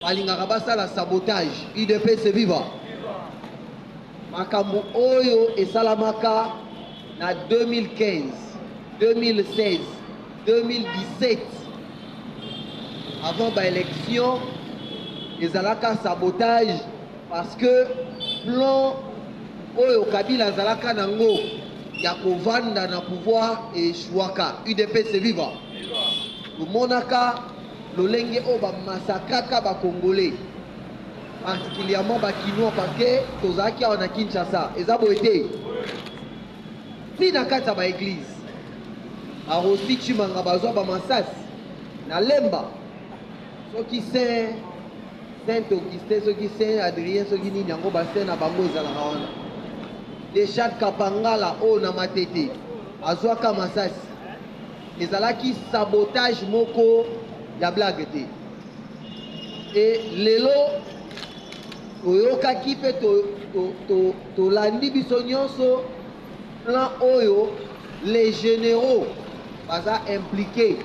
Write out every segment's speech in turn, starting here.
Balingaka basala sabotage. UDPS viva. Makambo oyo esalamaka na 2015, 2016, 2017 avant ba élection ezalaka sabotage parce que plan oyo Kabila azalaka nango ya kovanda na pouvoir echouaka. UDPS viva. Tomonaka lolenge oyo ba massacraka ba congolais particulièrement ba kinois parce que tozalaki awa na Kinshasa eza boye te ti na kati ya ba eglise ba Rossi Chimanga bazwa ba masasi na Lemba soki saint saint Augustin soki saint Adrien soki nini yango ba saint na bango ezalaka wana Richard Kapangala oyo na Matete azwaka masasi Ezalaki sabotage moko ya blague te. Et lelo toyokaki mpe tolandi to, to, to biso nyonso plan oyo les généraux baza impliqué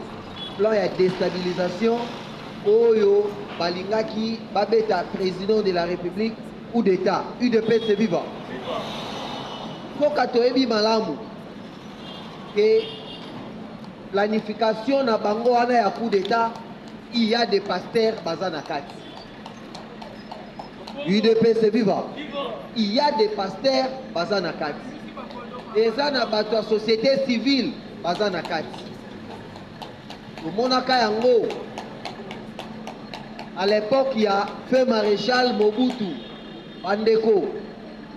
plan ya déstabilisation oyo balingaki babeta président de la république coup d'état udps viva mpoka toyebi malamu que planification na bango wana ya coup d'etat il y a des pasteurs baza na kati udps viva il y a des pasteurs baza na kati eza na bato ya société civile baza na kati tomonaka yango à l'époque ya feu maréchal mobutu bandeko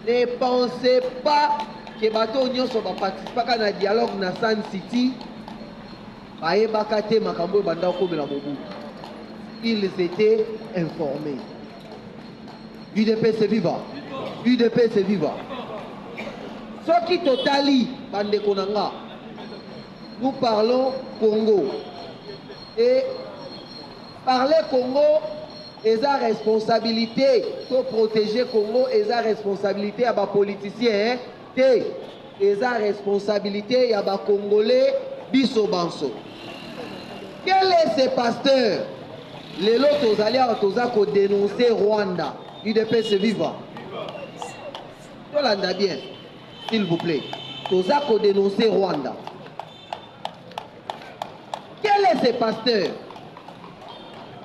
Ne pensez pas que bato oyo nyonso ba participaka na dialogue na Sun City bayebaka te makambo oyo banda kokomela Mobutu. Ils étaient informés. UDPS viva! UDPS viva! Soki totali bandeko na nga, nous parlons Congo et Parler Congo eza responsabilite to proteger Congo eza responsabilite ya ba politiciens hein? te eza responsabilite ya ba congolais biso banso quel est ce pasteur lelo tozali awa toza ko denoncer Rwanda udps viva tolanda bien s'il vous plaît toza ko denoncer Rwanda Quel est ce pasteur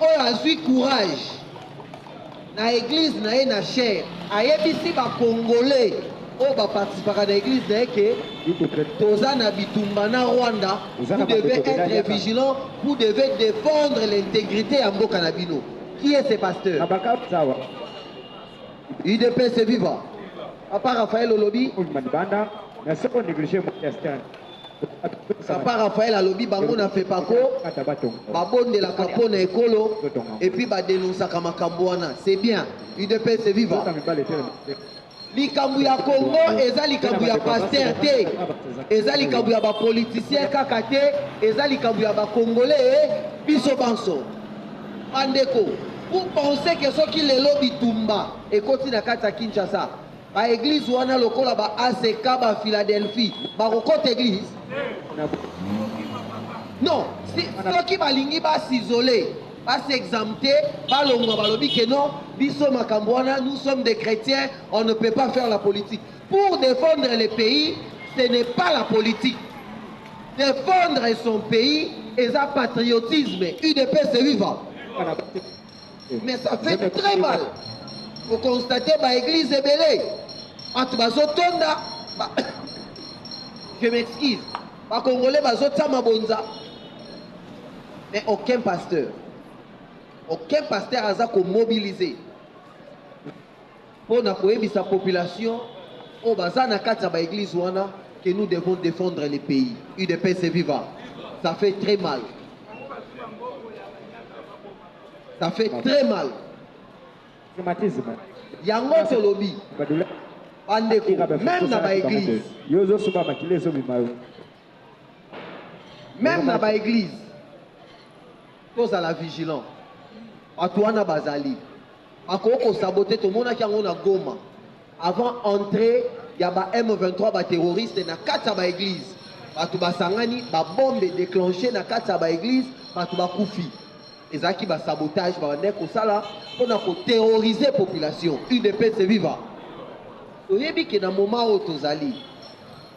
oyo azwi courage na eglise na ye na chaire ayebisi bacongolais oyo baparticipaka na eglise na ye ke toza na bitumba na rwanda vous devez être vigilant vous devez défendre l'intégrité ya mboka na bino qui est ce pasteur udps viva papa raphaël olobi papa raphael alobi bango na fepaco babondelaka mpo na ekolo epuis badenonsaka makambo wana c'est bien udps viva likambo ya congo eza likambo ya paster te eza likambo ya bapolitisien kaka te eza likambo ya bakongole eh, biso banso bandeko vous pensez ke soki lelo bitumba ekoti na kati ya kinshasa Ba eglise wana lokola ba ACK ba Philadelphie bakokota eglise non soki balingi ba s'isole ba s'examte balongwa balobi ke non biso makambo wana nous sommes des chrétiens on ne peut pas faire la politique pour défendre le pays ce n'est pas la politique défendre son pays eza patriotisme udps viva mais ça fait très mal okonstate baeglise ebele bato bazotonda ba... je m'excuse bakongole bazotia mabonza mais aucun pasteur aucun pasteur aza komobilize mpo na koyebisa population oyo baza na kati ya ba eglise wana que nous devons défendre le pays udps viva ça fait très mal ça fait très mal yango tolobi bandeko meme na ba eglise meme na baeglize tozala vigilant bato wana bazali bakoki kosabote tomonaki yango na goma avant entrée ya ba m23 baterroriste na kati ya baeglize bato basangani babombe déclenche na kati ya baeglize bato bakufi ezalaki basabotage babandaki kosala mpo na koterrorize population udps viva toyebi ke na moma oyo tozali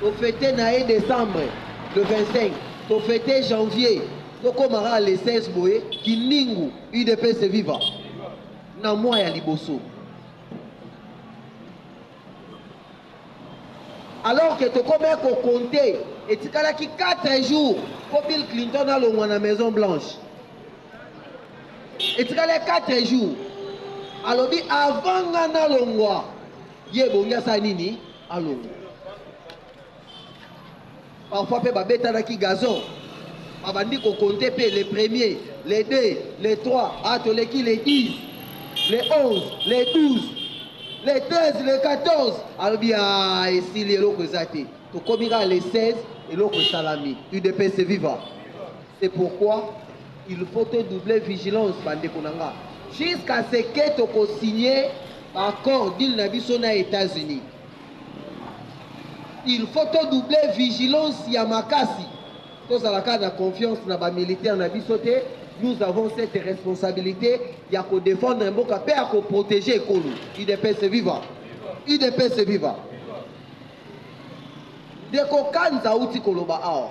To feter na ye decembre le 25 to feter janvier to koma kaka le 16 boye kindingu udps viva na mois ya liboso alors que tokomaki kokonte etikalaki 4 jours mpo bill clinton alongwa na maison blanche etikali 4 jours alobi avant nga nalongwa Ye ebongi asala nini? Alongwa. Parfois pe babetanaki gazon, babandi ko compter pe le premier, le deux, le trois, ah toleki le dix, le onze, le douze, le treize, le quatorze, alobi ah esili eloko eza te, tokomi kaka le seize, eloko esalami. Udps viva! C'est pourquoi il faut to doubler vigilance ba ndeko na nga jusqu'à ce que toko signer ba accord deal na biso na États-Unis il faut to doubler vigilance ya makasi tozala kaka na confiance na ba militaire na biso te nous avons cette responsabilité ya ko défendre mboka mpe ya ko protéger ekolo udps viva udps viva ndeko kanza auti koloba awa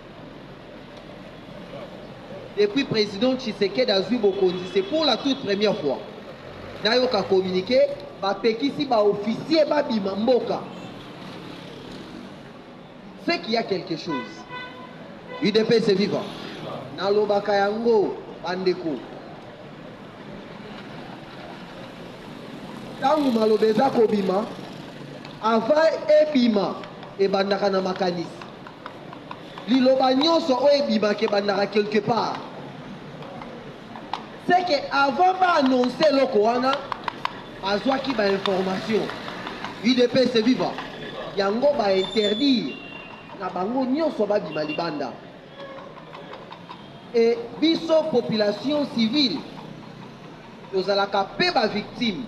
Depuis president Tshisekedi azui bokonzi c'est pour la toute première fois nayoka communique bapekisi ba officier babima mboka ce qu'il y a quelque chose udps viva nalobaka yango bandeko ntango maloba eza kobima avant ebima ebandaka na makanisi Liloba nionso oyo ebimaka ebandaka quelque part. Ce que avant ba annoncer eloko wana, azwaki ba informations. Udps viva! Yango ba interdire na bango nionso babima libanda. Et biso population civile tozalaka pe ba victimes.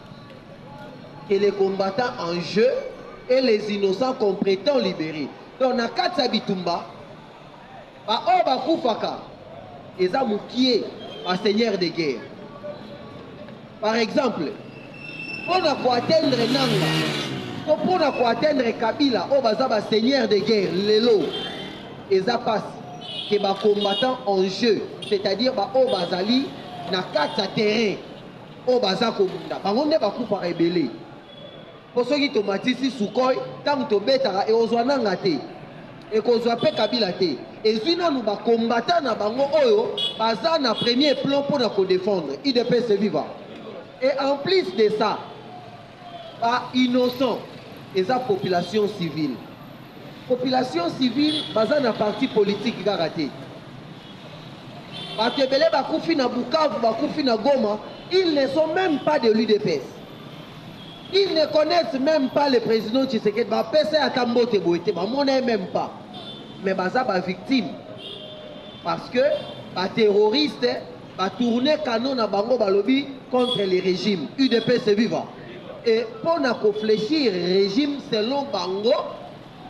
que les combattants en jeu et les innocents comprétents libérés. Donc na kati ya bitumba baoyo bakufaka eza mokie baseigneur de guerre. Par exemple, mpo na koatteindre nanga to mpo na koatteindre kabila oyo baza baseigneur de guerre lelo eza mpasi ke bacombattant en jeu c'est-à-dire baoyo bazali na kati ya terrain oyo baza kobunda bango nde bakufaka ebele mpo soki tomatisi sukoi ntango tobetaka ekozwa nanga te ekozwa mpe kabila te ezwi nanu bakombata na bango oyo baza na premier plan mpo na kodefendre idps viva et en plus de ça Ba innocents eza population civile. Population civile baza na parti politique kaka te. Batu ebele bakufi na Bukavu, bakufi na Goma, ils ne sont meme pas de l'UDPS. Ils ne connaissent meme pas le president Tshisekedi, bapesa ye ata mbote boye te, bamona ye meme pas. Mais baza ba victimes parce que ba terroristes Ba tourner canon na bango balobi contre le regime udps viva et pona ko flechir regime selon bango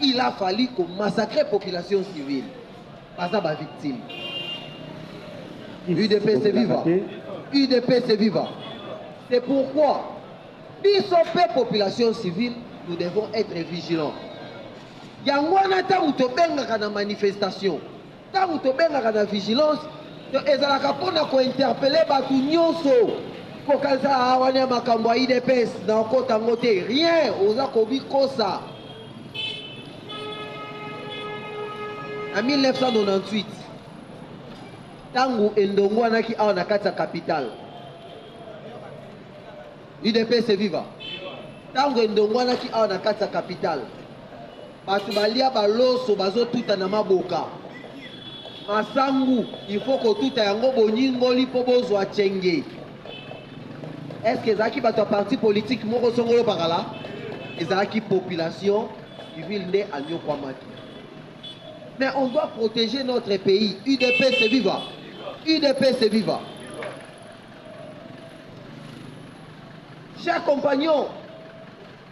il a fallu ko massacrer population civile baza ba victime udps viva udps viva c'est pourquoi biso mpe population civile nous devons être vigilants yango wana ntango tobengaka na manifestation Tango tobengaka na vigilance ezalaka mpo na ko interpeller bato nyonso. Kokanisa ah wana ya makambo ya udps na okota ngo te rien oza kobikosa na 1998 ntango endongwanaki awa na kati ya capitale udps viva ntango endongwanaki awa na kati ya capitale Batu balia ba loso bazo tuta na maboka. Masangu il faut kotuta yango bonyingoli mpo bozwa chenge. Est-ce que ezalaki bato ya parti politique moko songolo pakala? Ezalaki population civile nde anyokwamaki. Mais on doit protéger notre pays. UDPS viva. UDPS viva. Chers compagnons,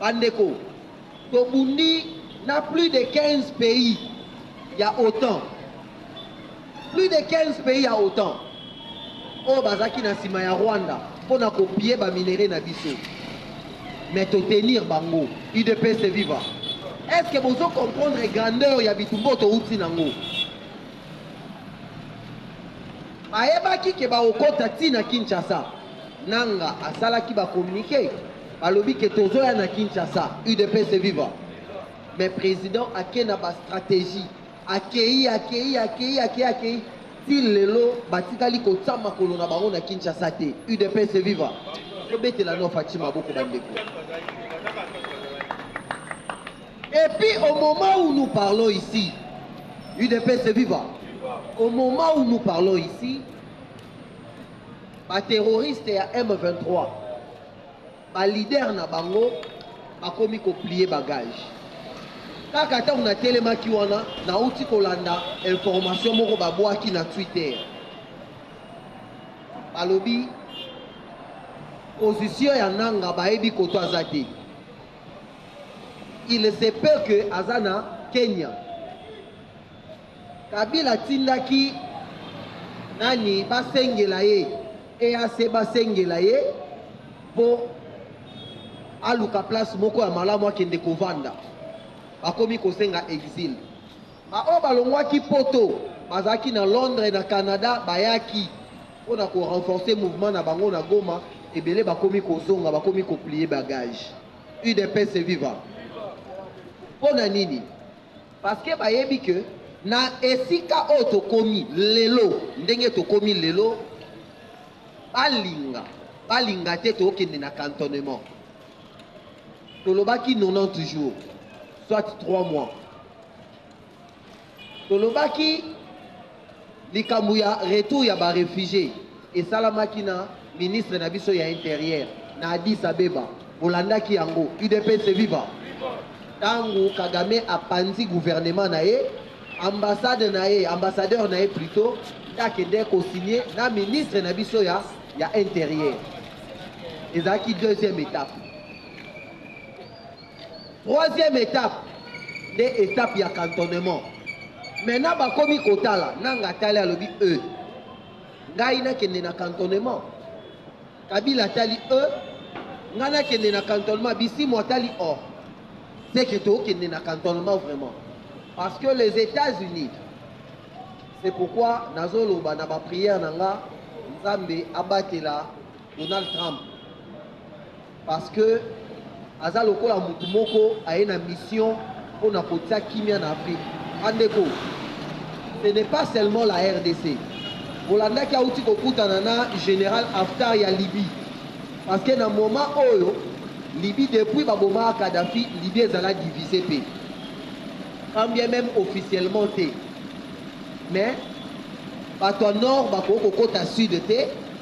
Ba ndeko, tobundi na plus de 15 pays ya otan. Plus de 15 pays ya otan oyo bazalaki na nsima ya Rwanda mpo na kopie ba minerais na biso, mais to tenir bango. UDPS viva! Est-ce que bozo comprendre grandeur ya bitumba oyo touti nango? Bayebaki ke bakokota ti na Kinshasa. Nanga asalaki ba communique balobi ke tozoya na Kinshasa udps viva mais president ake na ba strategie akei akei akei akei akei ti lelo batikali kotia makolo na bango na Kinshasa te udps viva tobetela no Fatshi maboko bandeko et puis au moment où nous parlons ici udps viva au moment où nous parlons ici ba terroriste ya M23 ba leader na bango bakomi koplie bagage kaka ntango natelemaki wana nauti kolanda information moko babwaki na twitter balobi position ya nanga bayebi koto aza te il se peut que aza na kenya Kabila atindaki nani basengela ye EAC basengela ye po aluka place moko ya malamu akende kovanda bakomi kosenga exil baoyo balongwaki poto bazalaki na londres na canada bayaki mpo na korenforce mouvement na bango na goma ebele bakomi kozonga bakomi koplie bagage udps viva mpo na nini Parce que bayebi que na esika oyo tokomi lelo, ndenge tokomi lelo, balinga balinga te tokende na cantonnement. Tolobaki 90 jours, soit 3 mois. Tolobaki Likambo ya retour ya ba refugies esalamaki na ministre na biso ya interieur na Addis Abeba, bolandaki yango? Udps viva! Tango Kagame apanzi gouvernement na ye, ambassade na ye, ambassadeur na ye plutot, nde akendeki ko signer na ministre na biso ya ya interieur. Ezalaki deuxième etape. Troisième etape nde etape ya cantonnement. Maintenant bakomi kotala nanga atali alobi e ngai nakende na cantonnement. Kabila atali e ngai nakende na cantonnement. Bisimwa atali o c'est que tokende na cantonnement vraiment parce que les États-Unis c'est pourquoi nazoloba na baprière na nga nzambe abatela donald trump Parce que aza lokola mutu moko aye na mission pona kotia kimia na Afrique. Bandeko, ce n'est pas seulement la RDC. Bolandaki auti kokutana na General Haftar ya Libye. Parce que na moment oyo Libye depuis babomaka Kadhafi, Libye ezala divisé pe. Quand bien même officiellement te. Mais bato ya nord bakoki kokota sud te